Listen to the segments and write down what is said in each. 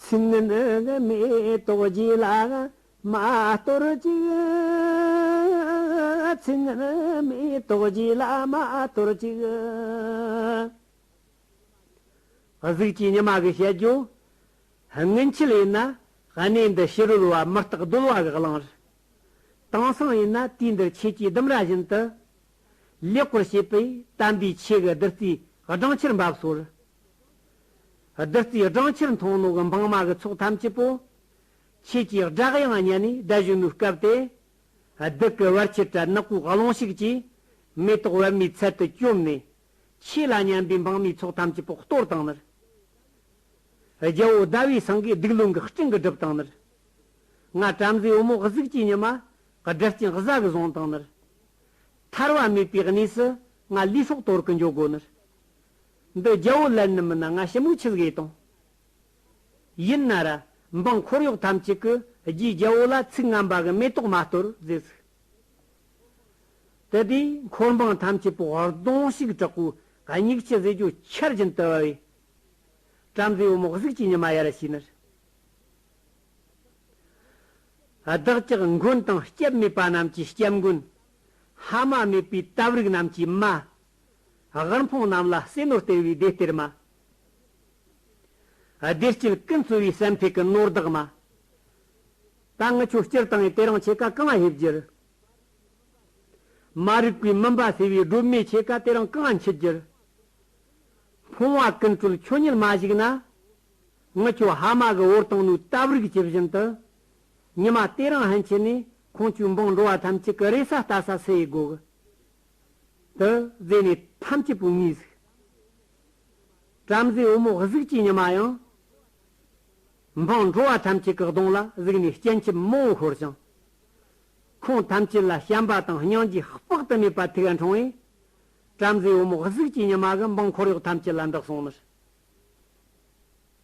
ཚིག་ནི་དམིགས་རྟོགས་བགྱིས་ལ་མ་སྟོར་ཅིག། ཚིག་ནི་དམིགས་རྟོགས་བགྱིས་ལ་མ་སྟོར་ཅིག། གཟུགས་ཀྱི་ཉི་མ་གི་བཤད་རྒྱུ། སྔོན་ཆད་ཡིན་ན་གནས་འདི་ཕྱི་རོལ་བ་མི་རྟག་རྡོལ་བ་གི་གླིང་རུ། དེང་སང་ཡིན་ན་དུས་འདིར་ཁྱེད་ཀྱིས་ལྡུམ་ར་བཞིན་དུ། ལེགས་པར་བྱས་པས་དམ་པའི་ཆོས་གི་བདུད་རྩིའི་སྦྲང་ཆར་འབབ་སོགས་བདུད་རྩིའི་སྦྲང་ཆར་མཐོང་ནོ་གི་འབངས་མ་གི་ཚོགས་ཐམས་ཅད་པོ། ཁྱེད་ཀྱིས་བསྒྲགས་ཡང་བརྙན་ནས་བཟླས་བཞུ་ནུས་སྐབས་དེ། བདུད་ཀྱི་བར་ཆད་དྲག་ནག་གོས་སློང་ཞིག་ཅིག། མེ་ཏོག་བལ་མའི་ཚལ་དུ་བཅོམ་ནས། ཁྱེད་ལ་སྙན་པའི་འབངས་མའི་ཚོགས་ཐམས་ཅད་པོ་གཏོར་དང་ནི། རྒྱལ་བོ་ཟླ་བའི་ཟངས་ཀའི་སྡིག་ལུང་གི་སྤྲིན་གྱི་སྒྲིབ་དང་ནི། ང་བྲམ་ཟེའི་བུ་མོ་གཟུགས་ཀྱི་ཉི་མ། སྒྲིབ་ཅིང་གཟའ་གི་གཟུངས་དང་ནི། ཐར་བ་མེད་པའི་གནས་སུ་ང་ལུས་སྲོག་དོར་གི་འཇོག་གོ་ནི། འདི་རྒྱལ་བོ་ལན་ནི་མིན་ན་ང་ཞི་མོའི་ཆིལ་གས་དང། ཡིན་ན་ར་འབངས་འཁོར་གཡོག་ཐམས་ཅད་ཀྱི་རྒྱུའི་རྒྱལ་བོ་ལ་ཚིག་རྔམ་པ་གི་མེ་ཏོག་མ་གཏོར་རྫས་ཟིག། དེ་དུས་འཁོར་འབངས་ཐམས་ཅད་པོ་ཧོར་གདོང་ཞིག་དྲག་པོའི་སྙིགས་ཆུ་ཟས་ཀྱི་ཆར་བཞིན་དུ་བབས་པས། བྲམ་ཟེ་བུ་མོ་གཟུགས་ཀྱི་ཉི་མ་ཡར་ཕྱིན་ནས། བདག་ཅག་མགོན་དང་སྐྱབས་མེད་པ་རྣམས་ཀྱི་སྐྱབས་མགོན། ཧ་མ་མེད་པའི་སྟབས་རིགས་རྣམས་ཀྱི་མ། དབུལ་ཕོངས་རྣམས་ལ་བསིལ་ནོར་སྟེར་བའི་བདེ་སྟེར་མ། བདེ་སྐྱིད་ཀུན་སྩོལ་བའི་སེམས་ཐིག་གི་ནོར་བདག་མ། དྭངས་ཆུ་སྤྱིར་བཏང་གི་དེ་རང་ཆེ་ཀ་གང་བ་ཧེབ་འགྱུར། མ་རིག་པའི་མུན་པ་སེལ་བའི་སྒྲུབ་མའི་ཆེ་ཀ་དེ་རང་གང་བ་འཆི་འགྱུར། ཕོངས་བ་ཀུན་སྩོལ་ཁྱོད་ཉིད་མ་གཞིག་ན། དངུལ་ཆུ་ཧ་མ་གི་འོར་དང་ནུའི་སྟབས་རིགས་ཇི་བཞིན་དུ། ཉི་མ་དེ་རང་ཧན་འཆི་ནས་ཁོང་ཆུའི་འབངས་འགྲོ་བ་ཐམས་ཅད་ཀྱི་རེ་ས་ལྟ་ས་སུ་ཡིས་དགོས། དུ་བཟོས་ནས་ཐམས་ཅད་བུ་ངའི་གཟུགས། བྲམ་ཟེའི་བུ་མོ་གཟུགས་ཅི་ཉི་མ་ཡང། འཕང་འགྲོ་བ་ཐམས་ཅད་ཀྱི་གདོང་ལ་གཟིགས་ནས་སྐྱེ་མཆེད་རྨོ་བོ་ཤོར་ཅིང། ཁོང་ཐམས་ཅད་ལ་བྱམས་པ་དང་སྙིང་རྗེ་དཔག་ཏུ་མེད་པ་ཐེག་དྲངས་བས། བྲམ་ཟེའི་བུ་མོ་གཟུགས་ཅི་ཉི་མ་གི་འབངས་འཁོར་གཡོག་ཐམས་ཅད་ལ་འདི་གསུངས་མི།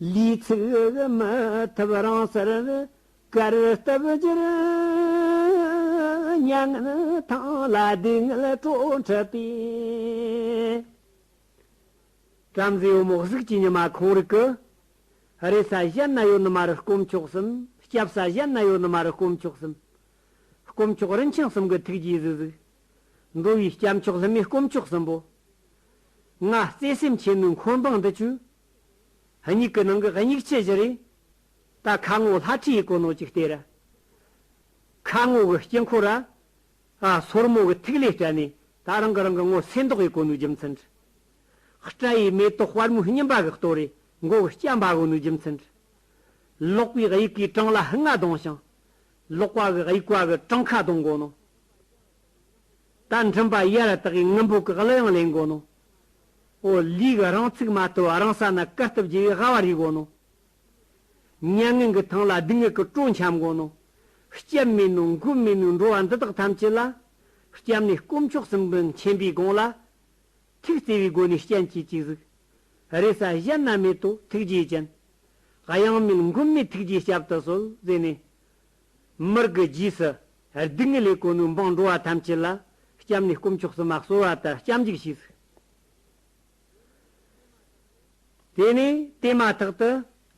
ལུས་ཚིགས་མི་ཐུབ་རང་སར་བཀར་སྟབས་ཀྱིར་མྱ་ངན་ཐང་ལ་སྡུག་བསྔལ་སྤྲོ་འཁྲབ་པའི། བྲམ་ཟེ་ཡོ་མོག་གཟུགས་ཀྱི་ཉི་མ་ཁོང་རིག་གི། རེས་ས་གཞན་ན་ཡོ་ནི་མ་རུ་སྐོམ་ཆོག་གསུམ་སྐྱབས་ས་གཞན་ན་ཡོ་ནི་མ་རུ་སྐོམ་ཆོག་གསུམ། སྐོམ་ཆོག་རིན་ཆེན་གསུམ་གི་ཐུགས་རྗེའི་གཟུགས་གཟུགས། འགྲོ་བའི་སྐྱབས་མཆོག་ལྷུན་མའི་སྐོམ་ཆོག་གསུམ་པོ། ལྔ། བརྩེ་སེམས་ཆེན་མོའི་འཁོར་འབངས་འདི་བཅུ། སྙིགས་ཀྱི་ནང་གི་སྙིགས་ཆེ་བཞི་རེད། ད་ཁ་ངོ་ལྷ་ཁྲི་ཡི་གོ་ནོར་ཅིག་སྟེར། ཁ་ངོ་གི་དཀྱིལ་འཁོར་ར། སོར་མོ་གི་ཐིག་ལེ་སྤྲད་ནས་ད་རང་གི་རང་གི་ངོ་སེམས་དོགས་ཡི་གོ་ནོར་རྒྱུ་མཚན། སྤྲ་ཡི་མེ་ཏོག་དཔལ་མོའི་སྙིམ་པ་གི་ལྟོ་རེ་མགོ་གི་སྐྱ་འབའ་གོ་ནོར་རྒྱུ་མཚན། ལོག་པའི་དབྱིག་གི་བྲང་ལ་ལྔ་གདོང་ཞིང། ལོག་པ་གི་དབྱིག་བ་གི་བྲང་ཁ་གདོང་གོ་ནོར། རྟ་འགྲིམ་པ་ཡར་བཏགས་ཀྱི་དངུལ་འབུག་གི་གླུ་དབྱངས་ལེན་དགོས་ནོ། ཨོ་ལིག་རང་ཚུགས་མ་ཐུབ་རང་ས་ན་བཀར་སྟབས་བརྗེ་བའི་ཧ་བ་རིག་དགོས་ནོ། མྱ་ངན་གྱི་ཐང་ལ་སྡུག་བསྔལ་གྱི་སྤྲོ་འཁྱམས་དགོས་ནོ། སྐྱབས་མེད་ནོ་མགོན་མེད་ནོའི་འགྲོ་བ་འདི་དག་ཐམས་ཅད་ལ། སྐྱབས་གནས་དཀོན་མཆོག་གསུམ་གྱི་མཁྱེན་པའི་དགོངས་ལ། ཐུགས་བརྩེ་བའི་སྒོ་ནས་སྤྱན་གྱིས་གཅིག་གཟིགས། རེ་ས་གཞན་ན་མེད་དོ་ཐུགས་རྗེའི་སྤྱན། གཡང་མེད་མགོན་མེད་ཐུགས་རྗེའི་སྐྱབས་དུ་གསོལ། ཟེར་ནས། མིར་གྱི་རྗེས་སུ་སྡུག་བསྔལ་ལས་གོ་ནུས་འབངས་འགྲོ་བ་ཐམས་ཅད་ལ་སྐྱབས་ནས་སྐུ་མཆོག་སུ་མ་གསོལ་བ་ལྟར་སྐྱབས་འཇུག་བྱས་ཚུལ། དེ་ནས་དེ་མ་ཐག་ཏུ་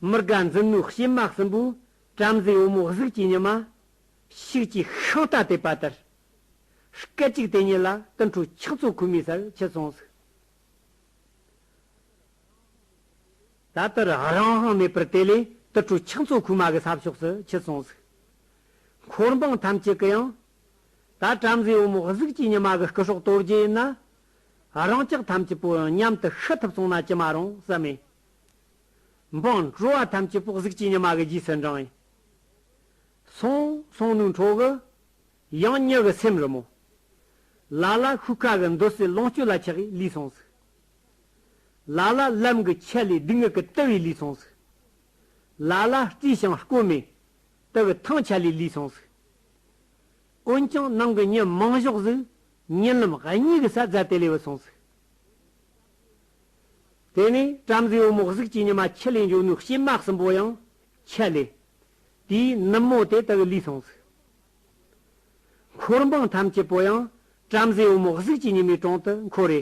མི་དགའ་འཛིན་མོའི་བྱེ་མ་གསུམ་པོས་བྲམ་ཟེའི་བུ་མོ་གཟུགས་ཀྱི་ཉི་མ་ཞིག་ཅིག་ཤིང་རྟ་བཏེགས་པ་ལྟར་སྐད་ཅིག་དེ་ཉིད་ལ་ཏིལ་འཕྲོ་ཆགས་ཚོགས་ཁུག་མའི་སར་ཁྱི་ཚོང་ཟུག། ད་ལྟ་རང་དབང་ཧང་མེད་པར་དེ་ལས་དུར་ཁྲོད་ཕྱག་མཚོ་ཁུག་མ་གི་ས་ཕྱོགས་སུ་ཁྱི་སོང་ཟིག། འཁོར་འབངས་ཐམས་ཅད་ཀྱི་ཡང། ད་བྲམ་ཟེའི་བུ་མོ་གཟུགས་ཀྱི་ཉི་མ་གི་སྐུ་སྲོག་གཏོར་རྒྱུ་ཡིན་ན། རང་ཅག་ཐམས་ཅད་པོ་མཉམ་དུ་ཤི་ཐུབ་སོང་ན་ཅི་མ་རུང་བསམ་མེད། འབངས་བྲོ་བ་ཐམས་ཅད་པོ་གཟུགས་ཀྱི་ཉི་མ་གི་རྗེས་སུ་འབྲང་ཡིན། སོང་སོང་ནུའི་འཕྲོ་གི། ཡང་མྱི་གི་སེམས་རི་མོ། ལ་ལ་ཤུགས་ཁ་གི་འདོད་སྲེད་ལོངས་སྤྱོད་ལ་ཆགས་ཡིས་ལུས་སོང་ཟིག། ལ་ལ་ལམ་གྱི་ཆད་ལས་སྡུག་བསྔལ་གྱི་ལྟེ་བའི་ལུས་ཚང་ཟིག། ལ་ལ་རྩིས་ཞིང་སྐོར་མེད་ལྟེ་བའི་ཐང་ཆད་ལས་ལུས་ཚང་ཟིག། འོན་ཀྱང་ནང་གི་ཉོན་མོངས་གཞོགས་ཟིག་ཉེ་ལམ་གཉིས་ཀྱི་ས་རྫ་དེ་ལས་བུད་སོང་ཟིག། དེ་ནས་བྲམ་ཟེའི་བུ་མོ་གཟུགས་ཀྱི་ཉི་མ་ཁྱི་ལས་འབྱུང་ནུས་ཤིང་སྨག་གསུམ་པོ་ཡང་ཆད་ལས། དེའི་ནུབ་མོ་དེ་ལྟ་བུའི་ལུས་ཚང་ཟིག། འཁོར་འབངས་ཐམས་ཅད་པོ་ཡང་བྲམ་ཟེའི་བུ་མོ་གཟུགས་ཀྱི་ཉི་མའི་དྲུང་དུ་འཁོར་རེ་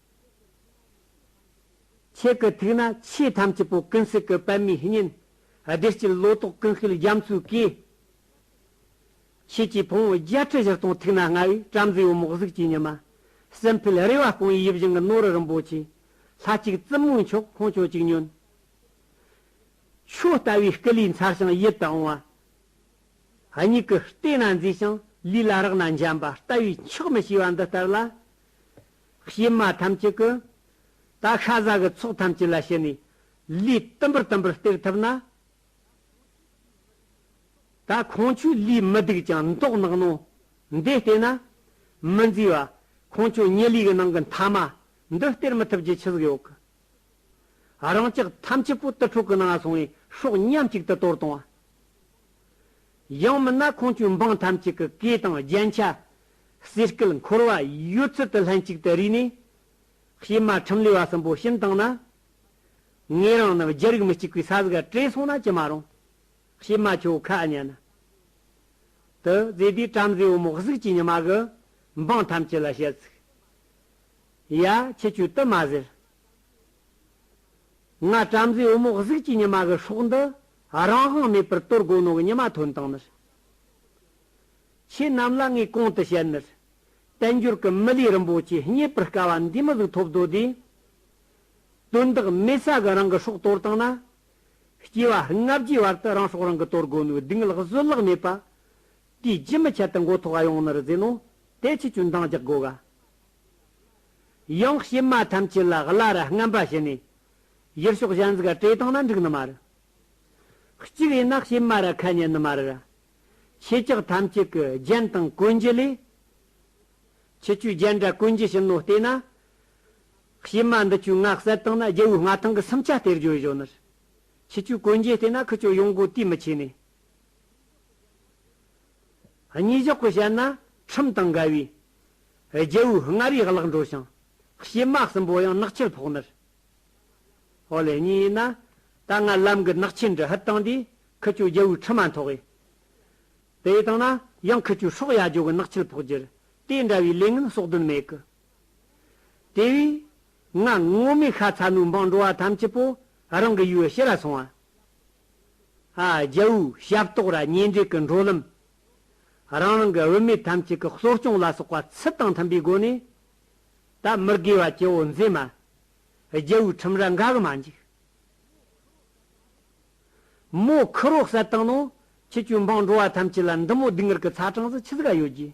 ཁྱེད་ཀྱི་ཐུགས་ན་ཆོས་ཐམས་ཅད་པོ་ཀུན་གཟིགས་ཀྱི་པདྨའི་སྙིང། བདེ་སྐྱིད་ལོ་ཏོག་ཀུན་སྐུལ་རྒྱ་མཚོའི་གོས། ཁྱེད་ཀྱི་ཕུང་བོ་བརྒྱད་ཁྲི་བཞི་སྟོང་ཐུགས་ན་མངའ་བའི་བྲམ་ཟེའི་འོ་མོག་གཟུགས་ཀྱི་ཉི་མ། སྲིན་བལ་རེ་བ་སྐོང་བའི་ཡིད་བཞིན་གྱི་ནོར་བུ་རིན་པོ་ཆེ། ལྷ་གཅིག་བཙུན་མོའི་མཆོག་ཁོང་ཁྱོད་ཅིག་ཉོན། ཁྱོད་ལྟ་བུའི་སྐུ་ལུས་མཚར་ཞིང་ཡིད་དུ་འོང་བ། སྙིང་གི་ལྟས་ན་མཛེས་ཤིང་ལུས་ལ་རག་ན་འཇམ་པ་ལྟ་བུའི་མཆོག་མི་ཤེས་པ་འདི་ལྟར་ལ། གཤེད་མ་ཐམས་ཅད་ཀྱི། ད་ཤ་ཟ་གི་ཚོགས་ཐམས་ཅད་ལ་ཞེན་ནས། ལུས་དུམ་བུར་དུམ་བུར་སྟེར་ཐུབ་ན། ད་ཁོང་ཆོས་ལུས་མི་སྡུག་ཅིང་མདོག་ནག་ནོ། འདི་སྟེར་ན། མི་མཛེས་བ། ཁོང་ཆོས་ཉེ་ལུས་ཀྱི་ནང་གི་མཐའ་མ། འདི་སྟེར་མི་ཐུབ་ཀྱི་ཆུ་ཟིག་ཡོག་གི། རང་ཅག་ཐམས་ཅད་པོ་ཏི་ཕྲུག་གི་ནང་སོང་བའི་ཧྲོག་མཉམ་གཅིག་ཏུ་གཏོར་གཏོང་བ། ཡང་མིན་ན་ཁོང་ཚོའི་འབངས་ཐམས་ཅད་ཀྱི་སྐད་དང་རྒྱན་ཆ། ཟས་སྐལ་འཁོར་བ་ཡོད་ཚུལ་དུ་ལྷན་ཅིག་ཏུ་རིག་ནས། གཤེད་མ་ཁྲིམས་ལས་བ་གསུམ་པོ་གཤིན་བཏང་ན། ངེད་རང་རྣམས་རྒྱལ་རིགས་མི་གཅིག་པའི་ས་གཟིག་ག་བྲེས་སོང་ན་ཅི་མ་རུང། གཤེད་མ་ཁྱོད་ཁ་ཨ་ཉན་ན། དུ་ཛེ་དུས་བྲམ་ཟེ་བུ་མོ་གཟུགས་ཀྱི་ཉི་མ་གི་འབངས་ཐམས་ཅད་ལ་བཤད་ཚིག། ཡ་ཁྱི་ཁྱོད་དུ་མ་ཟེར། ང་བྲམ་ཟེ་བུ་མོ་གཟུགས་ཀྱི་ཉི་མ་གི་སྲོག་འདི་རང་དབང་མེད་པར་གཏོར་རྒོལ་གནང་བའི་ཉི་མ་ཐོན་སྟངས་ནི། ཁྱེད་རྣམས་ལ་ངས་གོང་དུ་བཤད་ནི། དལ་འབྱོར་གྱི་མི་ལུས་རིན་པོ་ཆེ་རྙེད་པར་དཀའ་བ་འདིས་མི་གཟུགས་ཐོབ་དོ་དེ། དོན་དག་མེད་ས་གི་རང་གི་སྲོག་གཏོར་སྟངས་ན། སྐྱེ་བ་ལྔ་བརྒྱའི་བར་དུ་རང་སྲོག་རང་གིས་གཏོར་རྒོལ་ནུས་བདུག་སྔགས་བཟོད་གླགས་མེད་པ། དེ་རྒྱུན་མི་ཆད་དུ་མགོ་ཐོག་གཡང་ནི་རུ་རྫས་ནོ། དེ་ཕྱིས་ཀྱང་འདང་རྒྱག་དགོས་ག། གཡང་གཤེད་མ་ཐམས་ཅད་ལ་གླ་ར་རྔམ་པ་བྱས་ནས་ཡེར་ཤོག་གཞན་གཟིགས་ཀ་ཏྲེ་དང་ན་འགྲིག་ནི་མ་རུ། གཅིག་ཡིན་ན་ཤེས་མ་ར་ཁ་ཉན་ནི་མ་རུ་ར། ཆེ་ཀྱག་ཐམས་ཅད་ཀྱི་རྒྱན་དང་ཀུན་རྒྱུ་ལས། ཆུ་བཅུའི་རྒྱན་འདྲ་ཀུན་རྒྱུ་ཞིང་ནོ་ལྟས་ན། ཤེས་མ་འདི་བཅུའི་སྔགས་གསལ་དང་ན་རྒྱལ་བོའི་མངའ་ཐང་གི་སུམ་ཆ་སྟེར་རྒྱུ་བཞོན་ནི། ཆུ་བཅུའི་ཀུན་རྒྱུ་ལྟས་ན་ཁུ་བཅུ་ཡོངས་སྒོ་དུས་མི་ཆེ་ནས། གཉིས་གཞོག་གི་བཤད་ན་ཁྲིམས་དང་འགལ་བས། རྒྱལ་བོའི་མངའ་རིས་བརླག་འགྲོ་ཞིང། གཞས་མ་གསུམ་པོ་ཡང་ནག་ཆུར་ཕོག་མེད། ཧོ་ལེ་གཉིས་ཡིན་ན། ད་ང་ལམ་གི་ནག་ཆུའི་འདྲི་ཧད་བཏང་དུས་ཁུ་བྱུག་རྒྱལ་བོའི་ཁྲི་མ་འཐོག་གི། དེ་ཡི་སྟེང་ན་ཡང་ཁུ་བྱུག་ཧྲོག་ཡ་རྒྱོ་གི་ནག་ཆུར་ཕོག་རྒྱུར་དེ་འདྲ་བའི་ལས་ངན་ཟོག་དོན་མེད་གི། དེ་བས། ང་ངོ་མི་ཤ་ཚ་མོའི་འབངས་འགྲོ་བ་ཐམས་ཅད་པོ་རང་གི་ཡུལ་ཕྱི་ལ་སོང་བ། ཨ་རྒྱལ་བོའི་ཞབས་ཏོག་ར་ཉེ་འབྲེལ་གི་འགྲོ་ལམ། རང་རང་གི་བུད་མེད་ཐམས་ཅད་ཀྱི་གསོ་སྐྱོང་ལ་སོགས་པ་ཚུལ་དང་མཐུན་པའི་སྒོ་ནས་ད་མི་དགེ་བ་སྐྱེ་བོ་མཛེས་མ། རྒྱལ་བོའི་ཁྲིམས་ར་འགའ་གི་མ་འཇིག། མོ་ཁི་རོ་གསལ་དང་ནོ། ཁྱི་གཅོད་འཕང་འགྲོ་བ་ཐམས་ཅད་ལ་འདི་མོ་སྡིག་ངར་གི་ཚ་གྲངས་སུ་ཁྱི་ཟིག་ག་ཡོད་ཀྱི།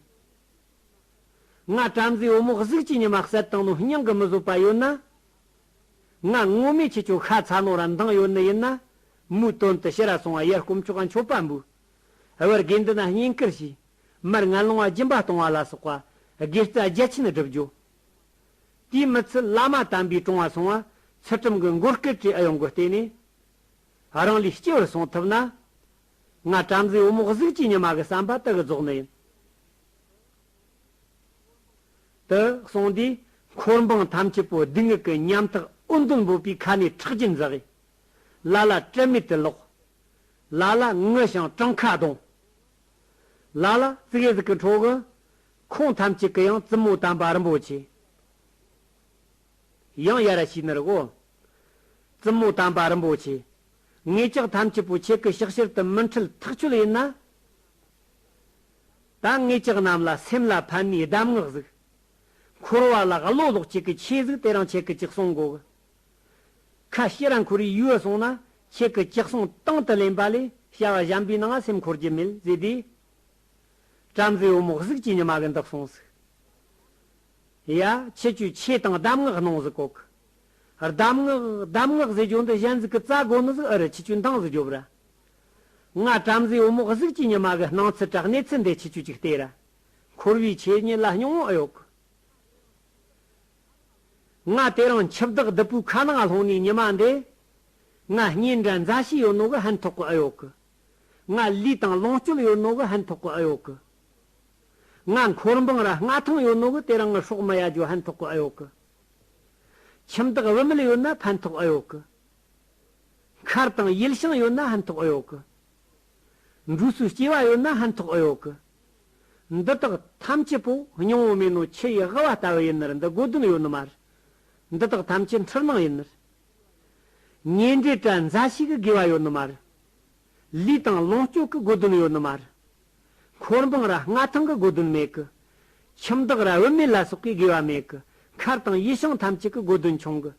ང་བྲམ་ཟེའི་བུ་མོ་གཟུགས་ཀྱི་ཉི་མ་གསལ་དང་ནོ་སྙིང་གི་མི་བཟོད་པ་ཡོད་ན། ང་སྔོན་མའི་ཁྱི་གཅོད་ཤ་ཚ་ནོ་ར་མདངས་ཡོད་ནི་ཡིན་ན། མོའི་དོན་དུ་ཕྱི་ར་སོང་བ་ཡར་སྐོམ་ཆོག་ག་མཆོད་པ་འབུལ། ཨེ་བར་དགེ་འདུན་བསྙེན་བཀུར་བྱས། མར་ངན་ལོང་བ་སྦྱིན་པ་གཏོང་བ་ལ་སོགས་པ། དགེ་རྩ་བརྒྱ་ཆེན་བསྒྲུབ་རྒྱུ། དེའི་མི་ཚུལ་བླ་མ་དམ་པའི་དྲུང་བ་སོང་བ། ཚུལ་ཁྲིམས་ཀྱི་མགོ་སྐོས་ཀྱི་ཨེ་ཡོང་སྒོ་བལྟས་ནས། རང་ལུས་སྐྱེ་བར་སོང་ཐུབ་ན། ང་བྲམ་ཟེའི་འོ་མོག་གཟུགས་ཀྱི་ཉི་མ་གི་བསམ་པ་དག་རྫོགས་ནས་ཡིན། དུ་སོང་དུས་འཁོར་འབངས་ཐམས་ཅད་པོ་སྡུག་བསྔལ་གྱི་ཉམ་ཐག་ཨུ་མདོར་འབོད་པའི་ཁ་ནས་ཁྲག་རྒྱུན་འཛག། ལ་ལ་བཀྲེས་མེད་དུ་ལོག། ལ་ལ་དངུལ་ཞིང་བྲང་ཁ་གདོང། ལ་ལ་རྩིག་གཟིག་གི་འཕྲོ་གི། ཁོང་ཐམས་ཅད་ཀྱི་ཡང་བཙུན་མོ་དམ་པ་རིན་པོ་ཆེ། ཡང་ཡར་ཞིག་ནི་རི་བོ། བཙུན་མོ་དམ་པ་རིན་པོ་ཆེ། ངེད་ཅག་ཐམས་ཅད་པོ་ཁྱེད་ཀྱི་ཕྱག་བྱེར་དུ་མི་འཁྲིལ་ཐག་ཆོད་ཡིན་ན། ད་ངེད་ཅག་རྣམས་ལ་སེམས་ལ་ཕན་ནུས་གདམས་ངག་གཟིགས། འཁོར་བ་ལ་བློ་ལོག་ཁྱེད་ཀྱི་ཆོས་གཟིགས་དེ་རང་ཁྱེད་ཀྱི་ཅིག་གསུང་གོ། ཁ་ཤས་རང་ཁོ་རེའི་ཡུལ་སོང་ན་ཁྱེད་ཀྱི་ཅག་སོང་སྟངས་དུ་ལེན་པ་ལས་བྱ་བ་གཞན་པའི་ནང་སེམས་འཁོར་གྱི་མེད་ཟེར་དུས། བྲམ་ཟེའི་བུ་མོ་གཟུགས་ཀྱི་ཉི་མ་གི་འདུག་སོང་ཟིག། ཡ། ཁྱེད་ཀྱིས་ཆོས་དང་གདམས་ངག་གནང་ཟིག་གོ་ཁི། གདམས་ངག་གདམས་ངག་ཟེར་རྒྱུ་འདི་གཞན་གཟུགས་ཀྱི་རྩ་དགོ་ནི་ཟིག་ཨི་རི་ཁྱི་ཁྱོད་འདང་ཟིག་རྒྱོ་བུ་ར། ང་བྲམ་ཟེའི་བུ་མོ་གཟུགས་ཀྱི་ཉི་མ་གི་སྣང་ཚུལ་དྲག་གནས་ཚུལ་འདི་ཁྱི་ཁྱོད་ཀྱི་ལྟས་ར། འཁོར་བའི་ཆོས་ཉིད་ལ་སྙིང་བོ་ཨི་ཡོད་གི། ང་དེ་རིང་འཆི་བདག་བདུད་པོའི་ཁ་ནང་ལྷུང་ནས་ཉི་མ་འདས། ང་སྙིང་འདྲ་མཛའ་བཤེས་ཡོད་ནོ་གི་ཧན་ཐོག་གི་ཨེ་ཡོད་གི། ང་ལུས་དང་ལོངས་སྤྱོད་ཡོད་ནོ་གི་ཧན་ཐོག་གི་ཨེ་ཡོད་གི། ང་འཁོར་འབངས་ར་ལྔ་ཐང་ཡོད་ནོ་གི་དེ་རིང་ངའི་སྲོག་མི་ཡ་འཇོ་ཧན་ཐོག་གི་ཨེ་ཡོད་གི། ཁྱིམ་བདག་བུད་མེད་ཡོད་ན་ཕན་ཐོག་ཨེ་ཡོད་གི། མཁར་དང་ཡུལ་ཞང་ཡོད་ན་ཧན་ཐོག་ཨེ་ཡོད་གི། འབྲུ་སུ་སྐྱེ་བ་ཡོད་ན་ཧན་ཐོག་ཨེ་ཡོག་གི། འདི་དག་ཐམས་ཅད་པོ་སྙིང་བོ་མིན་ནོ་ཁྱི་ཡི་ཝེ་བ་ལྟ་བུ་ཡིན་ནིར་འདི་དགོས་དོན་ཡོད་ནི་མ་རེད། འདི་དག་ཐམས་ཅད་འཁྲུལ་སྣང་ཡིན་ནིར། ཉེ་འབྲེལ་དྲ་མཛའ་ཞིག་གི་དགོས་བ་ཡོད་ནི་མ་རེད། ལུས་དང་ལོངས་སྤྱོད་གི་དགོས་དོན་ཡོད་ནི་མ་རེད། འཁོར་འབངས་ར་ལྔ་ཐང་གི་དགོས་དོན་མེད་གི། ཁྱིམ་བདག་ར་བུད་མེད་ལ་སོགས་ཀྱི་དགོས་བ་མེད་གི་མཁར་དང་ཡུལ་ཤང་ཐམས་ཅད་ཀྱི་དགོས་དོན་ཆུང་གི།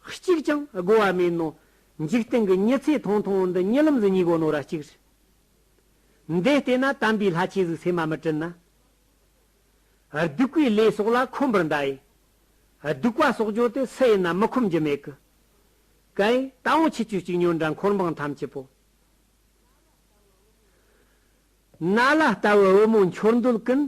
གཅིག་ཀྱང་བསྒོ་བ་མིན་ནོ། འཇིག་རྟེན་གྱི་ཉི་ཚེ་ཐུང་ཐུང་འདི་ཉིད་ལམ་གྱི་ཉིད་བསྒོ་ནོ་ར་གཅིག་རེ། འདས་ལྟས་ན་དམ་པའི་ལྷ་ཆོས་གཟུགས་སེམས་མ་མི་དྲི་ན། གདུག་པའི་ལས་སོགས་ལ་ཁོམ་པར་འདའ་ཡི། གདུག་པ་སོགས་བརྗོད་དེ་སུ་ཡིན་ན་མི་ཁོམ་རྒྱུ་མེད་ཀི། ཀའི་རྟ་བོང་ཆུ་བཅུ་གཅིག་ཉོན་དགྲ་འཁོར་འབངས་ཐམས་ཅད་པོ། ན་ལ་ལྟ་བུ་བུ་མོ་འཁྱོར་འདོད་ཀུན།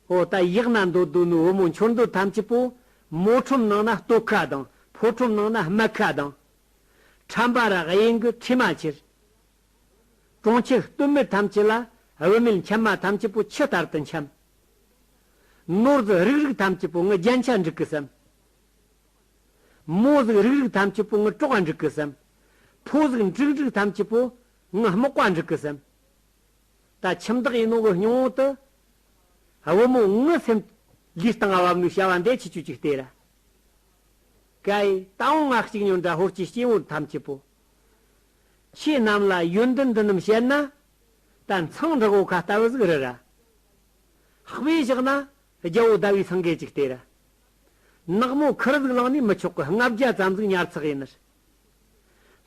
ཨོ་ལྟ་ཡག་ན་འདོད་དོ་ནུ་བུ་མོ་འཁྱོར་འདོད་ཐམས་ཅད་པོ། མོ་ཁྲོམ་ནང་ན་སྟོད་ཁ་དང་ཕོ་ཁྲོམ་ནང་ན་སྨད་ཁ་དང། ཁྲམ་པ་རག་གཡེང་གི་ཁྲི་མ་ཁྱེར། གྲོང་ཁྱེར་སྟོད་མི་ཐམས་ཅད་ལ་བུད་མེད་འཁྱམ་མ་ཐམས་ཅད་པོ་ཁྱི་ལྟར་དུ་འཁྱམ། ནོར་གཟུགས་རིག་རིག་ཐམས་ཅད་པོ་ངི་རྒྱན་ཆ་འགྲིག་གི་སམ། མོ་གཟུགས་རིག་རིག་ཐམས་ཅད་པོ་ངི་སྤྲོག་འགྲིག་གི་སམ། ཕོ་གཟུགས་འགྲིག་འགྲིག་ཐམས་ཅད་པོ་ངའི་དམག་བཀའ་འགྲིག་གི་སེམས། ད་ཁྱིམ་བདག་ཡིན་ནོ་འི་སྙིང་བོ་དུ། བུ་མོ་ངའི་སེམས། ལུས་ལྟ་ང་བབ་ནུས་བྱ་བ་འདས་ཆི་ཆུ་ཅིག་སྟེ་ར། ཀའི་ད་འོང་ང་གཅིག་ཉོན་དགྲ་ཧོར་གྱི་སྐྱེ་བོ་འཐམ་སྐྱེ་པོ། ཁྱེད་རྣམས་ལ་ཡོན་ཏན་འདི་རྣམས་བཤད་ན། ད་མཚང་འབྲི་གོ་ཁ་ལྟ་བུ་ཟིག་རི་ར། ཧག་པས་བཞག་ན་རྒྱལ་བོ་ཟླ་བའི་སངས་རྒྱས་ཅིག་སྟེ་ར། ནག་མོ་ཁུར་ཟིག་ལངས་ནས་མི་ཆོག་གི་ལྔ་བརྒྱ་ཙམ་ཟིག་ཉར་ཚགས་ཡིན་ར།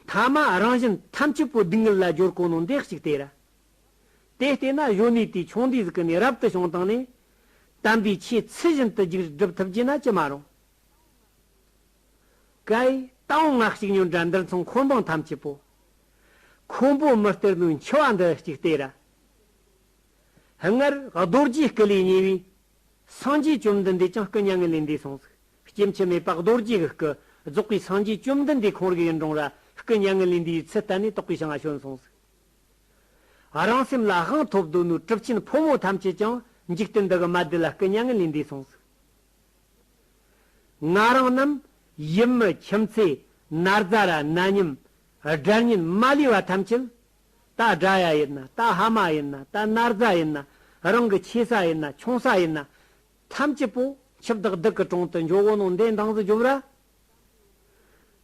ཐ་མ་རང་བཞིན་ཐམས་ཅད་པོ་སྡུག་བསྔལ་ལ་སྦྱོར་གང་ནོ་འདེགས་ཤིག་དེ་ར། དེ་ལྟས་ན་གཞོན་ནུའི་དུས་ཆུང་དུས་སུ་ཀུན་ནས་རབ་ཏུ་བྱུང་བཏང་ནས། དམ་པའི་ཆོས་ཚུལ་བཞིན་དུ་རྒྱུགས་བསྒྲུབ་ཐུབ་ཀྱི་ན་ཅི་མ་རུང། ཀྭའི་རྟའུ་སྔགས་གཅིག་ཉོན་དྲ་འདིར་མཚུངས་འཁོར་འབངས་ཐམས་ཅད་པོ། ཁོང་པོ་མི་སྟེར་དུས་འཆི་བ་འདི་གཅིག་སྟེར་ར། སྔར་རྡོ་རྗེའི་སྐུ་ལས་ཉེ་བའི། སངས་རྒྱས་བཅོམ་ལྡན་འདས་ཀྱང་སྐུ་མྱ་ངན་ལས་འདས་སོང་ཟིག། སྐྱེ་འཆི་མེད་དཔག་རྡོ་རྗེའི་སྐུ། རྫོགས་པའི་སངས་རྒྱས་བཅོམ་ལྡན་འདས་གང་རིགས་ཡིན་འབྲོང་ར་སྐུ་མྱ་ངན་ལས་འདས་པའི་ཚུལ་བསྟན་ནས་རྟོགས་པའི་ཞིང་ཨ་བྱོན་སོང་ཟིག། རང་སེམས་ལ་དབང་ཐོབ་གདོད་ནུས་གྲུབ་ཆེན་ཕོ་མོ་ཐམས་ཅད་ཀྱང་འཇིག་རྟེན་འདི་གི་མ་བདེ་ལ་སྐུ་མྱ་ངན་ལས་འདས་སོང་ཟིག། ང་རང་རྣམས་ཡུམ་མི་ཁྱིམ་ཚེ་ནར་རྫ་ར་ན་ཉིམ་སྦྲར་ཉིན་མ་ལུས་བ་ཐམས་ཅད། ད་སྦྲ་ཡ་ཡིན་ན་ད་ཧ་མ་ཡིན་ན་ད་ནར་རྫ་ཡིན་ན་རང་གི་ཆེ་ས་ཡིན་ན་ཆུང་ས་ཡིན་ན། ཐམས་ཅད་པོ་ཆུ་བདག་བདག་གི་དྲུང་དུ་འཇོག་བོ་ནང་འདས་མདངས་སུ་འཇོམས་ར།